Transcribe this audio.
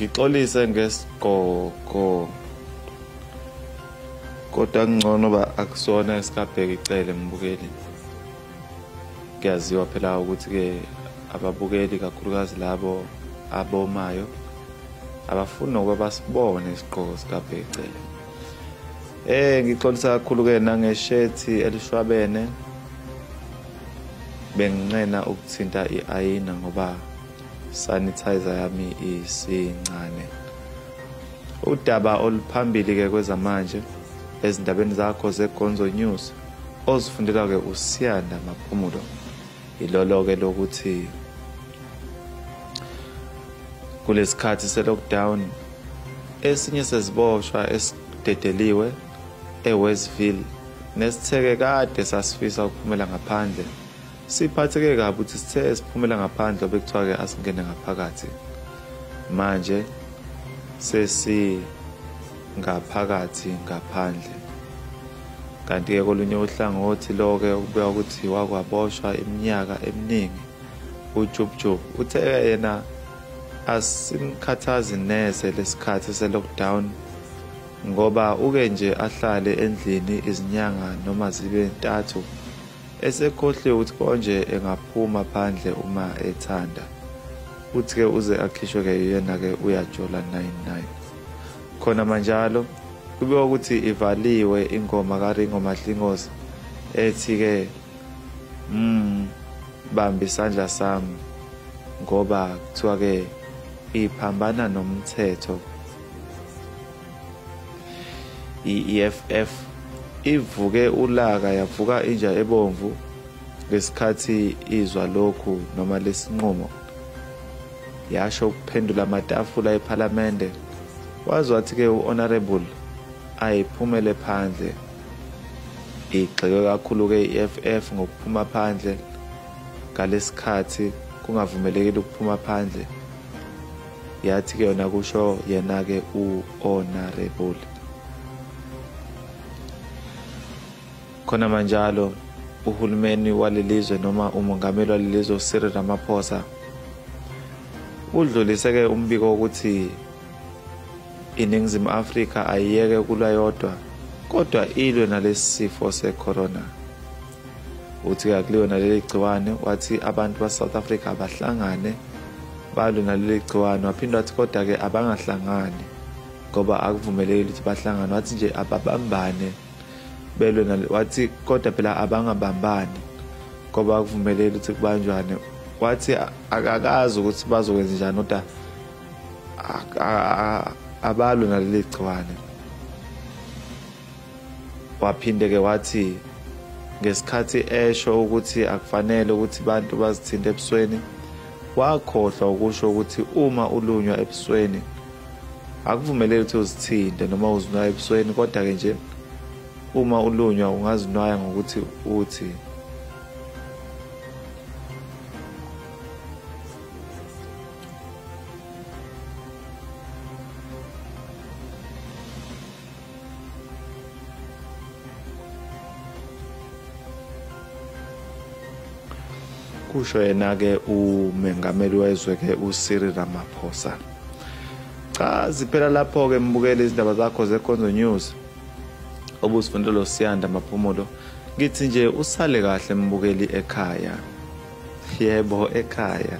ngixolise ngesigqoko kodwa kungcono uba akusona esikabheka icele mbukeli kuyaziwa phela ukuthi-ke ababukeli kakhulukazi labo abomayo abafuni nokuba basibone isigqoko sikabheka icele eh ngixolisa kakhulu-ke nangeshethi elishwabene benginqena ukuthinta i-ayina ngoba sanitizer yami isincane udaba oluphambili ke kwezamanje ezindabeni zakho zegonzo news ozifundela ke usiyanda maphumulo ilolo ke lokuthi kulesikhathi selockdown esinye seziboshwa esidedeliwe eWestville nesitheke kade sasifisa ukuphumela ngaphandle Siphatheke kabi ukuthi sithe siphumela ngaphandle obekuthiwa ke asingene ngaphakathi. Manje sesi ngaphakathi ngaphandle. Kanti ke kolunye uhlangothi loke ukubuya ukuthi wakwaboshwa iminyaka eminingi uJubjub uthe yena asimkhathazi neze lesikhathi selockdown ngoba uke nje ahlale endlini izinyanga noma zibe ntathu Esekhohliwe ukuthi konje engaphuma phandle uma ethanda. Uthi ke uze akhishwe ke yena ke uyajola 99. Khona manjalo kube ukuthi ivaliwe ingoma kaRingo Mahlingozi ethi ke mm bambi isandla sami ngoba kuthiwa ke iphambana nomthetho i-EFF ivuke ulaka yavuka inja ebomvu ngesikhathi izwa lokhu noma lesinqumo yasho ukuphendula amatafula ephalamende wazi wathi-ke u-honorable ayiphumele phandle igxeke kakhulu-ke i-eff ngokuphuma phandle ngalesikhathi kungavumelekile ukuphuma phandle yathi ke yona kusho yena ke u honorable khona manjalo uhulumeni walelizwe noma umongameli walelizwe uCyril Ramaphosa udlulise ke umbiko ukuthi iningizimu Afrika ayiyeke kulwa yodwa kodwa ilwe nalesifo secorona uthi-ke kuleyona leli gciwane wathi abantu basouth africa abahlangane balwe naleli gciwane waphinde wathi kodwa-ke abangahlangani ngoba akuvumelekile ukuthi bahlangane wathi nje ababambane belwe wathi kodwa phela abangabambani ngoba akuvumelekile ukuthi kubanjwane wathi akakazi ukuthi bazokwenza njani kodwa abalwe naleli gciwane Waphinde-ke wathi ngesikhathi esho ukuthi akufanele ukuthi abantu bazithinte ebusweni wakhohlwa ukusho ukuthi uma ulunywa ebusweni akuvumeleki ukuthi uzithinte noma uzinwaya ebusweni kodwa-ke nje uma ulunywa ungazinwaya ngokuthi uthi kusho yena-ke umengameli wezwe-ke usiri ramaphosa cha ziphela lapho-ke mbukele izindaba zakho zekonzo news obuzifundela losiyanda maphumulo ngithi nje usale kahle mbukeli ekhaya yebo ekhaya